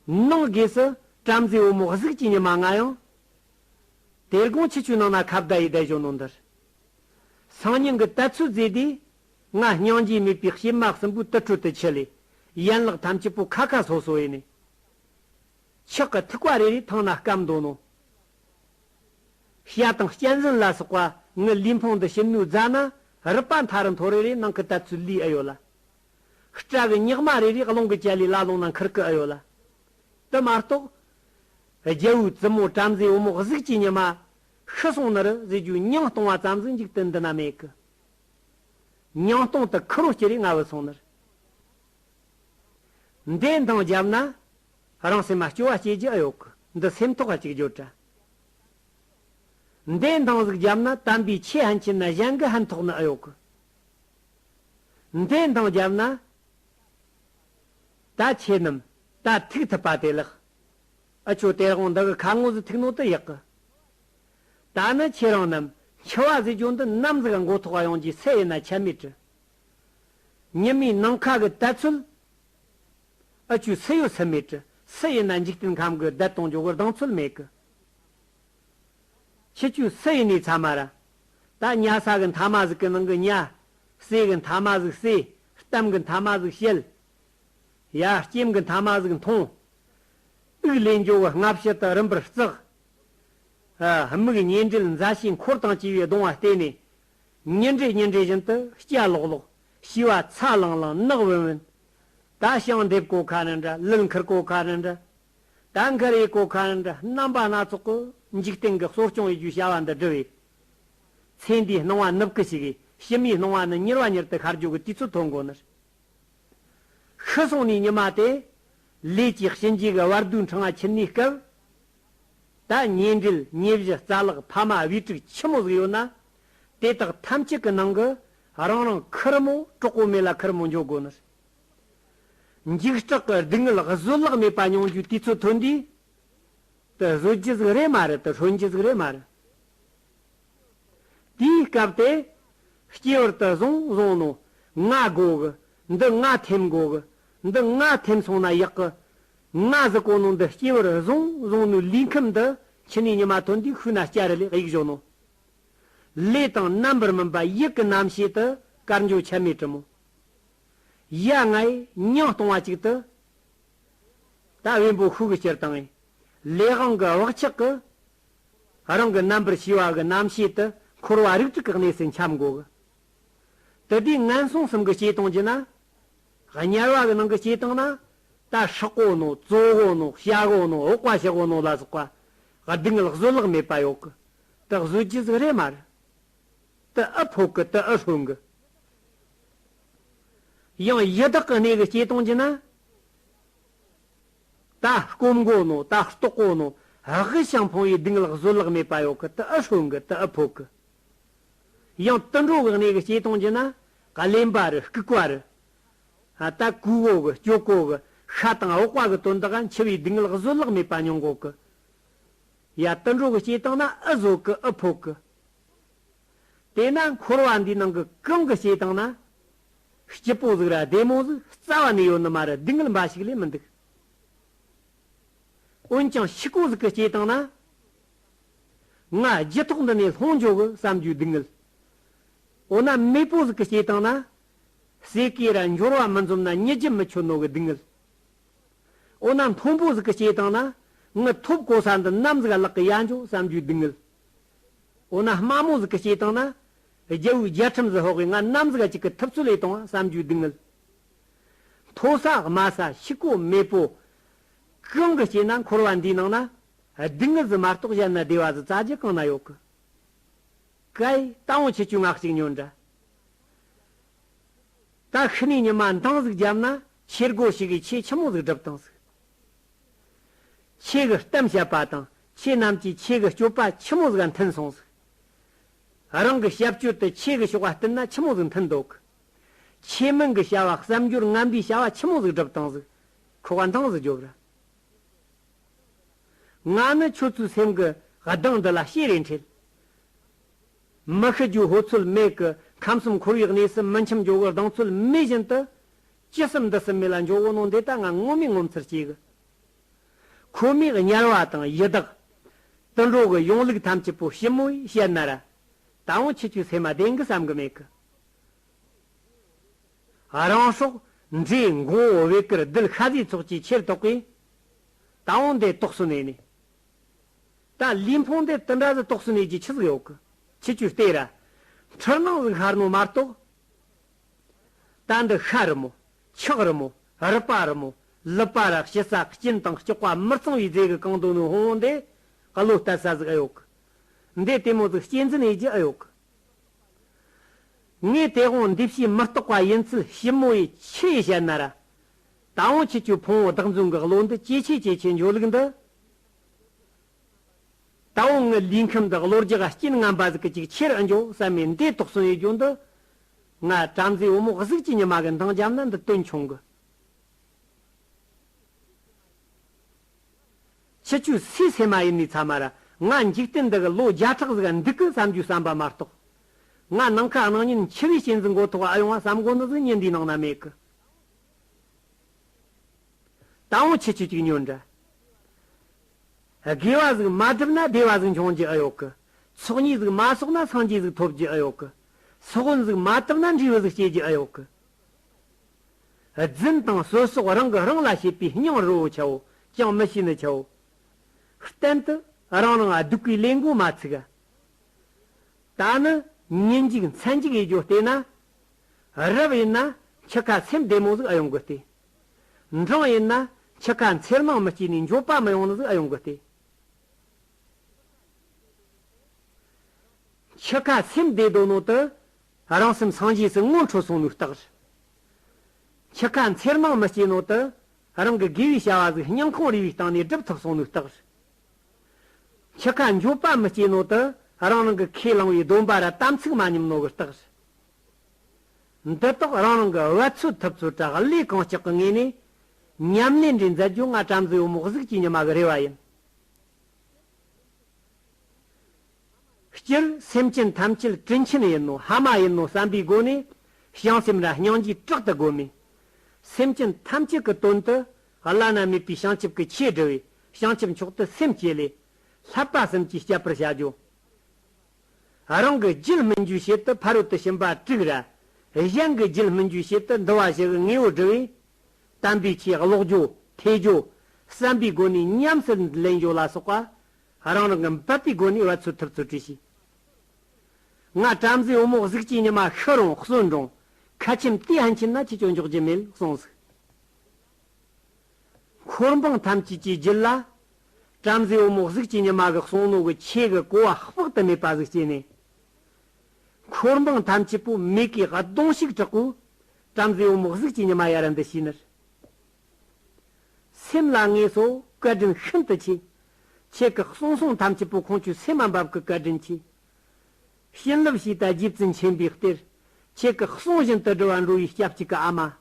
ནང་སྒོས་སུ་བྲམ་ཟེའི་བུ་མོ་གཟུགས་ཀྱི་ཉི་མ་ལྔ་ཡང། དེར་དགོངས་ཆུ་ཆུ་ནང་ན་ཁ་བརྡ་ཡི་བརྡ་བཞོ་ནང་འདིར། སང་ཉིན་གྱི་ལྟ་ཚུལ་མཛད་དེ། ང་སྙིང་རྗེ་མེད་པའི་གཤེད་མ་གསུམ་པོའི་ཏི་ཁྲོད་དུ་འཆི་ལས། ཡན་ལག་ཐམས་ཅད་པོ་ཁ་ཁ་སོ་སོ་ཡེ་ནས། ཆག་གི་ཐིགས་པ་རེ་རེ་ཐང་ན་སྐམ་འདོན་ནོ། ཤ་དང་གཅན་གཟན་ལ་སོགས་པ་ངའི་ལུས་འཕང་དུ་ཞིམ་སྣོད་བརྫ་ན་རུས་པ་མཐའ་རུ་མཐོ་རེ་རེའི་ནང་གི་དལ་ཚུལ་ལུས་ཨེ་ཡོད་ལ། སྐྲ་གི་སྙག་མ་རེ་རེ་རླུང་གི་བྱ་ལས་བླ་ལོང་ན་འཁུར་གི་ཨེ་ཡོད་ལ། དུ་མ་རྟོགས། རྒྱལ་བོའི་བཙུན་མོ་བྲམ་ཟེའི་བུ་མོ་གཟུགས་ཀྱི་ཉི་མ། ཤི་སོང་ནི་རུ་བཟོས་རྒྱུའི་ཉིང་སྟོང་བ་ཙམ་ཟིན་འཇུག་དུ་འདི་ན་མེད་གི། ཉིང་སྟོང་དུ་ཁུ་རུ་སྐྱེ་རེ་ང་བུ་སོང་ནི་རུ། འདྲེ་མདངས་བརྒྱབ་ན། རང་སེམས་མ་སྐྱོ་བ་སྐྱེས་ཀྱི་ཨ་ཡོག་གི་འདི་སེམས་ཐོག་ག་གཅིག་གྱུར་དྲ་འདེད་མདང་གཟུགས་རྒྱབ་ན་དམ་པའི་ཆོས་ཧན་གྱི་ན་གཞན་གི་ཧན་ཐོག་ནི་ཨ་ཡོག་གི་འདེད་མདང་རྒྱབ་ན་ད་ཁྱེད་རྣམས་ད་ཐུག་ཐུབ་པ་དེ་ལགས་ཨ་ཁྱོད་སྟེར་དབང་འདི་གི་ཁ་ངོ་ཟི་ཐུག་ནོ་དི་ཡག་གི་ད་ནི་ཁྱེད་རང་རྣམས་འཆི་བ་ཟི་ཅོ་འདི་རྣམ་གཟིག་མགོ་ཐོག་ག་ཡོང་རྒྱུའི་ཚད་ཡིན་ན་ཁྱད་མེད་དྲི་ཉི་མའི་ནང་ཁ་གི་དད་ཚུལ་ཨ་ཅུའི་ཚེ་ཡོད་ཚེ་མེད་ཀྱི་སྲིད་ཡིན་ན་འཇིག་རྟེན་ཁམས་ཀྱི་བདེ་སྟོང་ཇོ་བོར་གདེང་ཚོད་མེད་གི། ཁྱི་ཅུའི་ཚེ་ཡིན་ནས་ཚ་མ་ར། ད་ཉྭ་ས་གི་མཐའ་མ་གཟུགས་ཀྱི་ནང་གི་ཉྭ། ཟས་གི་མཐའ་མ་གཟུགས་ཟས། གཏམ་གི་མཐའ་མ་གཟུགས་བཤད། ཡ། སྐྱེམས་གི་མཐའ་མ་གཟུགས་མཐོང། དབུགས་ལས་འབྱུང་བའི་སྔ་ཕྱི་དུ་རིམ་པར་བརྩེགས། མིག་གཉེན་འབྲེལ་མཛའ་བཤེས་འཁོར་དང་བཅས་པའི་གདུང་བ་བརྟེན་ནས་ཉིན་རེ་ཉིན་རེ་བཞིན་དུ་སྐྱ་ལོག་ལོག། ཤི་བ་ཚ་ལང་ལང་ནག་བུན་བུན། ད་ཞིང་འདེབས་གོ་ཁ་ནི་འདྲ་ལུད་འཁུར་གོ་ཁ་ནི་འདྲ། ད་འཁུར་ཡས་གོ་ཁ་ནི་འདྲ་རྣམ་པ་སྣ་ཚོགས་ཀྱི་འཇིག་རྟེན་གྱི་གསོ་སྐྱོང་ཡི་རྒྱུའི་བྱ་བ་འདི་བསྒྲུབས་ཡས། ཚེ་འདིའི་སྣང་བ་ནུབ་ཀི་ཞིག་ཡས་གཤིས་མིའི་སྣང་བ་ནི་མྱུར་བ་མྱུར་དུ་ཤར་རྒྱུ་གི་དུས་ཚོད་ཐོ་འགོད་ནི་རེད། ཤི་སོང་ནས་ཉི་མ་དེ། ལས་ཀྱི་གཤིན་རྗེ་གི་བར་དུའི་འཕྲང་ཁྱེར་ནས་སྐབས། ད་ཉེ་འབྲེལ་ཉེ་བཞི་རྩ་ལག་ཕ་མ་དབུས་དཀྲུགས་ཁྱི་མོ་ཟིག་ཡོད་ན། དེ་དག་ཐམས་ཅད་ཀྱི་ནང་གི་རང་རང་ཁུ་རུ་མོ་དཀྲོག་གོ་མེད་ལ་ཁུ་རུ་མོ་འཇོག་དགོས་ནི་རེད། འཇིགས་སྐྲག་གི་སྡུག་བསྔལ་བཟོད་གླགས་མེད་པ་མྱོང་རྒྱུའི་དུས་ཚོད་ཐོན་དུས་དེ་བཟོད་རྒྱུ་ཟིག་རེད་མ་རེད་དེ་ཧྲོན་རྒྱུ་ཟིག་རེད་མ་རེད། དེའི་སྐབས་དེ་སྐྱེས་བར་དུ་བཟང་བཟང་ནོ་ང་དགོ་གི་འདི་ང་ཐེམ་དགོ་གི་འདི་ང་ཐེམ་སོང་ན་ཡག་གི་ང་ཟི་གོ་ནོ་འདི་སྐྱེ་བར་བཟུང་བཟུང་ནུས་ལུས་ཁམས་འདི་ཕྱི་ནས་ཉི་མ་ཐོན་དུས་ཤུགས་ན་སྐྱ་རི་ལས་གཡུག་བཞོ་ནོ། ལས་དང་རྣམ་པར་སྨིན་པ་དབྱིག་གི་རྣམ་ཤེས་དུ་དཀར་འཇོ་ཆད་མེད་དྲི་མོ། ཡ་ངའི་ཉིང་སྟོང་བ་ཅིག་དུ། ད་དབེན་པོ་ཤུགས་སྤྱིར་བཏང་ངས་ལས་དབང་གི་བག་ཆགས་ཀྱི། རང་གི་རྣམ་པར་ཤེས་པ་གི་རྣམ་ཤེས་དུ་འཁོར་བ་རིགས་དྲུག་གི་གནས་སུ་འཁྱམས་འགོག། དེ་དུས་ངན་སོང་གསུམ་གྱི་སྐྱེ་སྟངས་ཀྱི་ནང། དམྱལ་བ་གི་ནང་གི་སྐྱེ་སྟངས་ནང། ད་ཧྲག་གོ་ནོ་གཙོ་གོ་ནོ་བྱ་གོ་ནོ་འོག་པ་བྱེད་གོ་ནོ་ལ་སོགས་པ། སྡུག་བསྔལ་བཟོད་བརླག་མེད་པ་ཡོད་གི། དེ་བཟོད་ཀྱི་གཟུགས་རེད་མ་རེད། དེ་ཨི་ཕོག་གི་དེ་ཨི་ལྷོད་གི། ཡང་ཡི་དྭགས་ཀྱི་གནས་ཀྱི་སྐྱེ་སྟངས་ཀྱི་ནང། ད་སྐོམ་གོ་ནོ་ད་ལྟོགས་གོ་ནོ། དབུགས་ཀྱང་ཕོངས་བའི་སྡུག་བསྔལ་བཟོད་བརླག་མེད་པ་ཡོད་གི་དེ་ཨི་ལྷོད་གི་དེ་ཨི་ཕོག་གི། ཡང་དུད་འགྲོ་བའི་གནས་ཀྱི་སྐྱེས་སྟོང་རྒྱུ་ན་ཀ་ལེ་འབའ་རུ་སྐུ་བཀའ་རུ། ད་གུ་འོག་གི་སྐྱོ་གོ་གི་ཤ་དང་འོག་བ་གི་དོན་དག་འཆི་བའི་གདིང་ལག་བཟོད་གླགས་མེད་པ་མྱོང་གོ་གི། ཡ་དུད་འགྲོ་གི་སྐྱེས་སྟོང་ན་ཨི་བཟོད་གི་ཨི་ཕོག་གི། དེས་ན་འཁོར་བ་འདིའི་ནང་གི་གང་གི་སྐྱེས་སྟོང་ན། སྐྱིད་པོ་གཟུགས་ར་བདེ་མོ་གཟུགས་རྩ་བ་ནས་ཡོད་ནི་མ་རུ་སྡུག་བསྔལ་འབའ་ཞིག་ལས་མི་འདུག། འོན་ཀྱང་འཆི་ཀོ་གཟུགས་ཀྱི་སྐྱེས་སྟོང་ན། ང་རྒྱུད་ཐོག་འདི་ནས་ལྷོངས་འཇོག་གི་བསམ་རྒྱུ་སྡུག་གནོད། འོ་ན་མེས་པོ་ཟིག་གི་སྐྱེས་སྟངས་ན། ཟས་གོས་ར་འབྱོར་བ་མི་འཛོམས་ན་རྙེད་རྒྱུ་མི་ཆོད་ནོ་གི་སྡུག་གནོད། འོ་ན་མཐོན་པོ་ཟིག་གི་སྐྱེས་སྟངས་ན། ངུ་ཐོབ་གོ་ས་འདི་ནམ་ཟིག་བརླག་གི་ཡ་འཇོག་བསམ་རྒྱུ་སྡུག་གནོད། འོ་ན་དམའ་མོ་ཟིག་གི་སྐྱེས་སྟངས་ན། རྒྱལ་བོའི་རྒྱལ་ཁྲིམས་ཟིག་ཧོག་གིས་ང་ནམ་ཟིག་གཅིག་གི་ཐུབ་ཚོད་ལས་བཏང་བ་བསམ་རྒྱུ་སྡུག་གནོད། མཐོ་ས་དམའ་ས་ཕྱི་གོ་མེས་པོ། གང་གི་སྐྱེས་ན་འཁོར་བ་འདིའི་ནང་ན། སྡིག་ངུ་ཟི་མ་རྟོགས་གཞན་ན་བདེ་བ་ཟི་རྩ་རྒྱུ་གང་ན་ཡོད་ཀི། ཀའི། རྟ་བོང་ཆེ་ཆུའི་སྔགས་གཅིག་ཉོན་འདྲ། ད་ཤི་ནས་ཉི་མ་མདངས་ཟིག་བརྒྱབ་ན་ཆེར་སྒོ་ཞིག་གིས་ཆེ་ཆི་མོ་ཟིག་སྒྲུབ་དང་ཟིག། ཆེ་གི་གཏམ་བཤད་པ་དང་ཆེ་རྣམས་ཀྱིས་ཆེ་གི་སྤྱོད་པ་ཆི་མོ་ཟིག་མཐུན་སོང་ཟིག། རང་གི་བཤད་སྤྱོད་དུ་ཆེ་གི་ཞོག་བ་བསྟུན་ན་ཆི་མོ་ཟིག་མཐུན་འདོད་ཀི། ཆེ་མིང་གི་བྱ་བ་བསམ་སྦྱོར་རྔམ་པའི་བྱ་བ་ཆི་མོ་ཟིག་སྒྲུབ་དང་ཟིག། ཁོ་བ་མདངས་ཟིག་རྒྱོབ་ར། ང་ནི་ཁྱོད་ཚོའི་སེམས་ཀྱི་གདངས་འདི་ལ་ཤེས་རེ་འཁྲེལ། མི་ཤི་རྒྱུའི་ཧོལ་ཚོད་མེད་ཀྱི་ཁམས་སུ་འཁོར་བའི་གནས་སུ་མི་འཆམ་འཇོག་གི་གདངས་ཚོད་མེད་བཞིན་དུ། ཅི་གསུམ་འདི་གསུམ་མེད་ལ་འཇོག་བོ་ནོ་འདི་ལྟ་ང་ངོ་མས་ངོ་མཚར་སྐྱེ་གི། ཁོ་མོས་དམྱལ་བ་དང་ཡི་དྭགས། དུད་འགྲོ་གི་གཞུང་ལུགས་ཐམས་ཅད་པོ་ཞི་མོས་བཤད་ན་ར། ད་འོང་ཁྱེད་ཀྱིས་ཚད་མ་བདེན་གི་བསམ་གི་མེད་གི། རང་སྲོག། མཛེས་མགོ་བོ་བེ་ཀུར་རྡུལ་ཤ་ཟའི་ཚོགས་ཀྱིས་ཁྱེར་དོགས་པས། ད་འོང་འདི་དོགས་སུ་གནས་ནས། ད་ལུས་འཕོངས་འདི་དུ་འདྲ་ཟི་དོགས་སུ་གནས་ཀྱི་ཆུ་ཟིག་འོག་གི་ཆུ་ཆུ་ལྟེ་ར། འཁྲུལ་སྣང་ཟིག་ཤར་མོ་མར་དོགས། ད་འདི་ཤ་རི་མོ། ཆག་རི་མོ། རི་པ་རི་མོ། ལི་པ་ར་ཤི་ས་སྐྱིན་དང་སྐྱོགས་པ་མི་གཙང་བའི་རྫས་ཀྱི་གང་དུ་ནུ་ཧོང་འོང་འདི་གློ་ལྟ་ས་ཟིག་ཨེ་ཡོག་གི། འདི་ལྟད་མོ་ཟིག་སྐྱེ་འཛིན་ཨེ་གྱི་ཨེ་ཡོག་གི། ངས་སྟེས་དབང་འདི་བྱེད་མི་རྟོགས་པ་ཡིན་ཚུལ་ཞིབ་མོ་ཡིད་ཆེས་བཤད་ན། ར་ད་ཨོང་ཁྱེད་ཀྱི་ཕུང་བོ་བདག་འཛིན་གྱི་བློ་འདི་ཇེ་ཆེ་ཇེ་ཆེ་འཇོག་ལུགས་འདི། ད་ཨོང་ངའི་ལུས་ཁམས་འདི་བློ་རྒྱ་ཆེན་རྔམ་པ་ཟིག་གཅིག་ཕྱིར་ཨེ་འཇོག་བསམ་མེད་འདས་དོགས་སོང་ཡོད་རྒྱུ་འདི། ང་བྲམ་ཟེའི་བུ་མོ་གཟུགས་ཀྱི་ཉི་མ་གི་མདངས་བྱམས་ན་འདི་དོན་ཆུང་གི། ཕྱི་ཆུ་སའི་ཚེར་མ་ཡིན་ནའི་ཚ་མ་ར་ང་འཇིག་རྟེན་འདི་གི་ལོ་བརྒྱ་ཕྲག་ཟིག་འདུག་གི་བསམ་རྒྱུའི་བསམ་པ་མ་རྟོགས། ང་ནང་ཁ་སྣང་ཉིན་འཆི་བའི་རྐྱེན་གྱི་འགོ་ཐོག་ཨ་ཡོང་བ་བསམ་དགོ་ནི་ཟིག་ཉིན་འདིའི་ནང་ན་མེད་གི། ད་འོང་ཕྱི་ཆུ་གཅིག་ཉོན་འདྲ། དགེ་བ་ཟིག་མ་བསྒྲུབ་ན་བདེ་བ་ཟིག་འབྱུང་རྒྱུ་ཨེ་ཡོད་གི། ཚོགས་གཉིས་ཟིག་མ་གསོག་ན་སངས་རྒྱས་ཟིག་ཐོབ་རྒྱུ་ཨེ་ཡོད་གི། སྲོག་དབུགས་ཟིག་མ་བཏུབ་ན་འབྲས་བུ་ཟིག་སྐྱེ་རྒྱུ་ཨེ་ཡོད་གི། རྫུན་དང་ཟོལ་སོགས་རང་གིས་རང་ལ་བྱས་པའི་སྙིང་རུས་ཆེའོ་ཅང་མི་ཤེས་ནི་ཆེའོ། གཏན་དུ་རང་རང་སྡུག་པའི་ལས་འགོ་མ་ཚུགས། ད་ནི་ངན་འཇིགས་མཚན་འཇིགས་ཡེ་རྒྱུ་བལྟས་ན། རབ་ཡིན་ན་འཆི་ཁ་སེམས་བདེ་མོ་ཟིག་ཨ་ཡོང་གི་བལྟས། འབྲིང་ཡིན་ན་འཆི་ཁ་འཚེར་སྣང་མི་སྐྱེས་ནས་འགྱོད་པ་མི་ཡོང་ནི་ཟིག་ཨ་ཡོང་གི་བལྟས། འཆི་ཁ་སེམས་བདེ་དོ་ནོ་དི། རང་སེམས་སངས་རྒྱས་སུ་སྔོན་འཕྲོ་སོང་མུས་རྟགས། འཆི་ཁ་འཚེར་སྣང་མི་སྐྱེ་ནང་དུ། རང་གི་དགེ་བའི་བྱ་བ་གཟུགས་བརྙན་ཁང་རེ་བའི་སྟེང་ནས་སྒྲུབ་ཐུབ་སོང་མུས་རྟགས། འཆི་ཁ་འགྱོད་པ་མི་སྐྱེ་ནང་དུ། རང་རང་གི་ཁས་བླངས་བའི་སྡོམ་པ་ར་དམ་ཚིག་མ་ཉམས་ནོར་བུ་རྟགས། འདི་དག་རང་རང་གི་བ་ཚུད་ཐུབ་ཚུལ་དྲག་ལས་གང་ལྕགས་ཀྱི་ངོས་ནས། ཉམས་ལེན་འདྲེན་མཛད་རྒྱུ་ང་བྲམ་ཟེའུ་མོག་གཟུགས་ཀྱི་ཉི་མ་གི་རེ་བ་ཡིན། སྤྱིར་སེམས་ཅན་ཐམས་ཅད་སྤྲིན་ཆེན་ཡིན་ནོ་ཧ་མ་ཡིན་ནོ་བསམ་པའི་སྒོ་ནས་བྱང་སེམས་ར་སྙིང་རྗེས་དྲག་ཏུ་བསྒོམ། སེམས་ཅན་ཐམས་ཅད་ཀྱི་དོན་དུ་བླ་ན་མེད་པའི་བྱང་ཆུབ་ཀྱི་ཆོས་བསྒྲུབ་པས་བྱང་ཆུབ་མཆོག་ཏུ་སེམས་བསྐྱེད་ལས། ལྷག་པ་གསུམ་གྱིས་བསྐྱབ་པར་བྱ་རྒྱུ། རང་གི་རྒྱུད་སྨིན་རྒྱུའི་ཆེད་དུ་ཕ་རོལ་ཏུ་ཕྱིན་པ་དྲུག་ར། གཞན་གྱི་རྒྱུད་སྨིན་རྒྱུའི་ཆེད་དུ་འདུལ་བ་བཞི་གི་དངོས་པོ་བསྒྲུབ། དམ་པའི་ཆོས་ཀློག་རྒྱུ། ཐོས་རྒྱུ། བསམ་པའི་སྒོ་ནས་ཉམས་སུ་ལེན་རྒྱུ་ལ་སོགས་པ། རང་རང་གི་འབད་པའི་སྒོ་ནས་བ་ཚུར་ཐུབ་ཚུལ་བྲིས་ཤིང། ང་བྲམ་ཟེའི་བུ་མོ་གཟུགས་ཀྱི་ཉི་མ་ཤི་རུང་གསོན་འགྲོངས། ཁ་ཆེམས་དེ་ཧན་ཆེན་ན་ཁྱེད་ཅོ་འཇོག་རྒྱུ་མེད་གསུངས་ཟིག། འཁོར་འབངས་ཐམས་ཅད་ཀྱིས་བརྒྱུད་ལ། བྲམ་ཟེའི་བུ་མོ་གཟུགས་ཀྱི་ཉི་མ་གི་གསུང་ནོར་བུ་ཁྱེད་ཀྱི་གོ་བ་དཔག་ཏུ་མེད་པ་ཟིག་ཅེས་ནས། འཁོར་འབངས་ཐམས་ཅད་པོ་མིག་གིས་གདོང་ཤུགས་དྲག་པོས་བྲམ་ཟེའི་བུ་མོ་གཟུགས་ཀྱི་ཉི་མ་ཡར་འདི་ཞེས་ནར། སེམས་ལ་ངལ་གསོ་བཀའ་དྲིན་ཤིན་ཏུ་ཆེ། ཁྱེད་ཀྱི་གསུང་གསུང་ཐམས་ཅད་པོ་ཁོང་ཆུད་ཟས་མ་འབབ་གི་བཀའ་དྲིན་ཆེ། བྱིན་རླབས་ཞེས་དང་རྗེ་བཙུན་ཆེན་པོའི་གཏེར། ཁྱེད་ཀྱི་གསུང་བཞིན་དུ་འགྲོ་བ་འགྲོ་བའི་སྐྱབས་གཅིག་གི་ཨ་མ།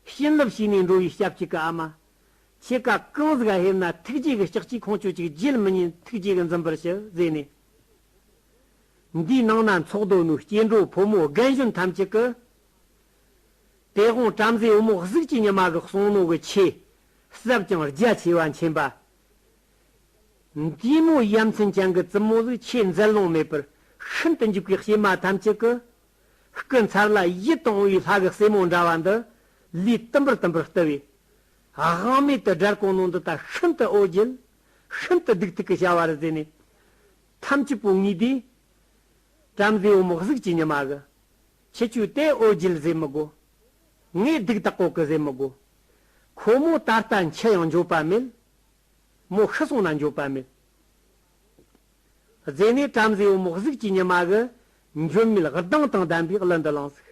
བྱིན་རླབས་བྱས་ནས་འགྲོ་བའི་སྐྱབས་གཅིག་གི་ཨ་མ། ཁྱེད་ཀ་གང་ཟིག་ཧེབ་ན་ཐུགས་རྗེ་གི་ཕྱག་གཅིག་ཁོང་ཆུད་ཅིག་རྗེས་མི་ཉན་ཐུགས་རྗེ་གི་འཛིན་པར་ཞུ་ཟེར་ནས། འདིའི་ནང་ན་འཚོགས་རྡོ་ནུའི་སྐྱེ་འགྲོ་ཕོ་མོ་རྒན་གཞོན་ཐམས་ཅད་ཀྱི། དེ་ཁོང་བྲམ་ཟེའི་བུ་མོ་གཟུགས་ཀྱི་ཉི་མ་གི་གསུང་ནོར་གྱི་ཆེ། ཟབ་ཅིང་རྒྱ་ཆེ་བ་མཁྱེན་པ། འདུས་མོ་ཡ་མཚན་ཅན་གྱི་བཙུན་མོ་ལུས་ཆེས་མཛེས་ལོང་མེད་པར་ཤིན་ཏུ་འཇུག་པའི་གཤེད་མ་ཐམས་ཅད་ཀྱི། སྐུ་མཚར་ལ་ཡིད་དུ་འོང་བའི་ལྷ་གི་སྲས་མོ་འདྲ་བ་འདི། ལུས་ཏིམ་པར་ཏིམ་པར་ལྟུ་བས། དབང་མེད་དུ་དགྲར་གོང་ནོ་འདི་ལྟར་ཤིན་ཏུ་ཨོ་བརྒྱལ། ཤིན་ཏུ་སྡུག་ཐུག་གི་བྱ་བ་རུ་མཛད་ནས། ཐམས་ཅད་པོ་ངུས་བསྡད། བྲམ་ཟེའི་བུ་མོ་གཟུགས་ཀྱི་ཉི་མ་གི། ཁྱི་བཅུ་སྟེ་ཨོ་རྒྱུད་བཟོས་མི་དགོ། ངའི་སྡིག་དག་གོ་གི་བཟོས་མི་དགོ། ཁོ་མོ་ད་ལྟ་འཆི་ཡང་འགྱོད་པ་མེད། མོ་ཤི་སོང་ན་འགྱོད་པ་མེད། རྫས་ནས་བྲམ་ཟེ་འོ་མོག་གཟུགས་ཀྱི་ཉི་མ་གི་འགྱོད་མེད་སྡང་དང་ལྡན་པའི་གླུ་འདི་བླངས་ཟིག།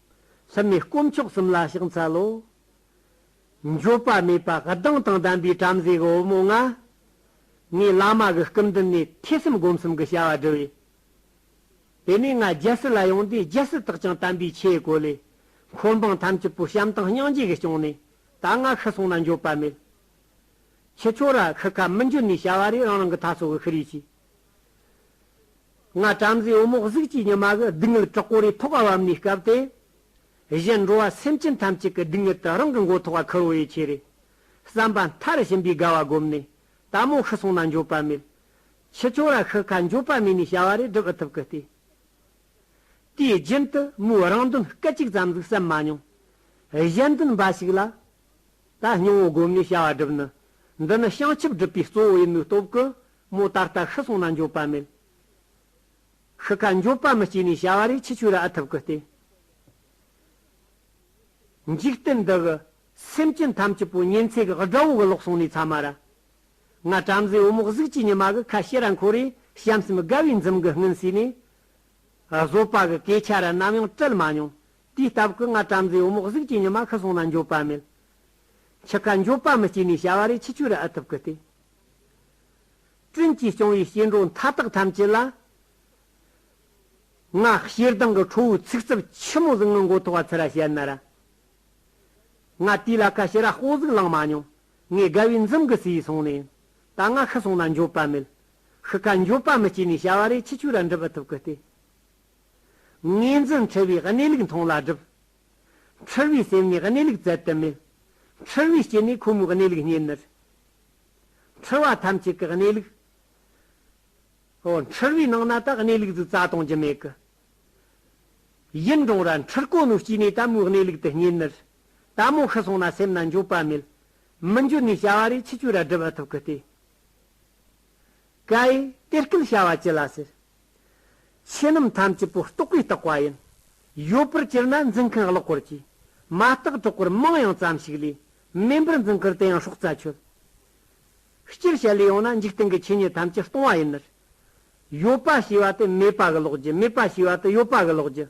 སེམས་ནི་དཀོན་མཆོག་གསུམ་ལ་ཕྱག་འཚལ་ལོ། འགྱོད་པ་མེད་པ་གདངས་དང་ལྡན་པའི་བྲམ་ཟེ་གོ་བོ་མོ་ང། ངས་བླ་མ་གི་སྐུ་མདུན་ནས་ཐེ་ཚོམ་སྒོམ་གསུམ་གྱི་བྱ་བ་བསྒྲུབས་ཡོད། དེ་ནས་ང་རྒྱལ་སྲིད་ལ་ཡོང་དུས་རྒྱལ་སྲིད་དག་ཀྱང་དམ་པའི་ཆོས་གོ་ལས། འཁོར་འབངས་ཐམས་ཅད་པོ་བྱམས་དང་སྙིང་རྗེ་གིས་སྐྱོང་ནས་ད་ང་ཤི་སོང་ན་འགྱོད་པ་མེད། ཁྱི་ཁྱོ་ར་ཁི་ཁ་མི་འཇུ་ནས་བྱ་བ་རེ་རང་རང་གི་ཐ་སོ་གི་ཤི་རེ་བྱས། སྔ་བྲམ་ཟེའི་བུ་མོ་གཟུགས་ཀྱི་ཉི་མ་གི་སྡུག་བསྔལ་དྲག་པོ་རེ་ཐོགས་བབ་ནས་སྐབས་དེ་བཞིན་འགྲོ་བ་སེམས་ཅན་ཐམས་ཅད་ཀྱི་སྡུག་བསྔལ་དུ་རང་གི་མགོ་ཐོགས་པ་ཁུར་བོ་ཡི་ཆེ་རེ་བསམ་པ་མཐར་ཕྱིན་པའི་དགའ་བ་བསྒོམས་ནས་ད་མོ་ཤི་སོང་ན་འགྱོད་པ་མེད་ཕྱི་ཆོ་ར་ཤི་ཁ་འགྱོད་པ་མེད་ནས་བྱ་བ་རེ་བསྒྲུབ་ཨི་ཐུབ་ཀི་ལྟོས། དེའི་རྒྱུན་དུ་མོའི་རང་དོན་སྐད་ཅིག་ཙམ་ཟིག་བསམ་མ་མྱོང། གཞན་དོན་འབའ་ཞིག་ལ་ད་སྙིང་བོ་བསྒོམས་ནས་བྱ་བ་བསྒྲུབ་ནི་འདི་ནི་བྱང་ཆུབ་སྒྲུབ་པའི་གཙོ་བོ་ཡིན་མོད་སྟོབས་ཀི་མོ་ད་ལྟ་ཤི་སོང་ན་འགྱོད་པ་མེད། ཤི་ཁ་འགྱོད་པ་མི་སྐྱེས་ནས་བྱ་བ་རེ་ཆི་ཆུ་ར་ཨ་ཐུབ་གི་སྟེ། འཇིག་རྟེན་འདི་གི་སེམས་ཅན་ཐམས་ཅད་པོ་གཉེན་ཚད་གི་དགྲ་བོ་གི་ལོག་སོང་ནས་ཚ་མ་ར། ང་བྲམ་ཟེ་བུ་མོ་གཟུགས་ཀྱི་ཉི་མ་གི་ཁ་ཤེ་ར་འཁོར་རེ་བྱམས་སེམས་དགའ་བའི་འཛུམ་གི་སྔུན་བསུས་ནས། བཟོད་པ་གི་སྐད་ཆ་ར་ནམ་ཡང་དྲིལ་མ་མྱོང། དུས་སྟབས་ཀི་ང་བྲམ་ཟེ་བུ་མོ་གཟུགས་ཀྱི་ཉི་མ་ཤི་སོང་ན་འགྱོད་པ་མེད། འཆི་ཁ་འགྱོད་པ་མི་སྐྱེས་ནས་བྱ་བ་རེ་ཆི་ཆུ་ར་ཨ་ཐུབ་གི་སྟེ། བཙུན་གྱིས་སྐྱོང་བའི་སྐྱེ་འགྲོ་མཐའ་དག་ཐམས་ཅད་ལ། སྔགས་ཕྱིར་ལྡང་གི་ཁྲོ་བོའི་ཚིག་རྩུབ་ཆེན་མོ་གཟུངས་སྔགས་མགོ་ཐོགས་པ་ཚེ་ར་བྱེད་རྣ་ར། ང་དུས་ལ་ཁ་ཤི་ར་དཔུང་གཟུགས་བླངས་མ་མྱོང། ངས་དགའ་བའི་འཛུམ་གྱི་ཟེའི་སོང་ནས་ཡིན། ད་ང་ཤི་སོང་ན་འགྱོད་པ་མེད། ཤི་ཁ་འགྱོད་པ་མི་སྐྱེ་ནས་བྱ་བ་རེ་ཆི་ཆུ་ར་འགྲུབ་པ་ཐུབ་ཀི་སྟེ། ངེས་འཛིན་འཁྲི་བའི་གནས་ལུགས་མཐོང་ལ་སྒྲུབ། འཁྲུལ་བའི་སེམས་ནི་གནས་ལུགས་བཙལ་དུ་མེད། འཁྲུལ་བའི་སྐྱེ་གནས་ཁོ་མོའི་གནས་ལུགས་རྙེད་ནུས། འཁྲུལ་བ་ཐམས་ཅད་ཀྱི་གནས་ལུགས། ཨོ། འཁྲུལ་བའི་ནང་ན་དག་གནས་ལུགས་གཟུགས་རྩ་གཏོང་རྒྱུ་མེད་ཀི། ཡུན་འབྲོང་ར་འཁྲུལ་ཀོ་མོའི་སྐྱེ་གནས་ལྟ་མོའི་གནས་ལུགས་དེ་རྙེད་ནུས། ལྟ་མོ་ཤི་སོང་ན་སེམས་ན་འགྱོད་པ་མེད། མི་འགྱོད་ནུས་བྱ་བ་རེ་ཆི་ཆུ་ར་སྒྲིལ་བ་ཐུབ་ཀི་སྟེ། ཀ་ཨེ། དེ་སྐད་བྱ་བ་ཅི་ལ་ཟེར། ཆོས་རྣམས་ཐམས་ཅད་པོ་རྟོགས་པས་རྟོགས་པ་ཡིན། ཡོད་པར་གྱུར་ན་འཛིན་མཁན་ཀློག་པོར་གྱིས། མ་རྟགས་གྲོགས་པོར་མང་ཡང་ཙམ་ཞིག་ལས། མིན་པར་འཛིན་ཁུར་དེ་ཡང་སྲོག་རྩ་ཆོད། སྤྱིར་བྱེད་ལས་ཡོངས་ན་འཇིག་རྟེན་གྱི་ཆོས་ཉིད་ཐམས་ཅད་སྟོང་བ་ཡིན། ཡོད་པ་ཞེས་པ་དེ་མེད་པ་གི་ལོགས་ཀྱི་མེད་པ་ཞེས་པ་དེ་ཡོད་པ་གི་ལོགས་ཀྱི།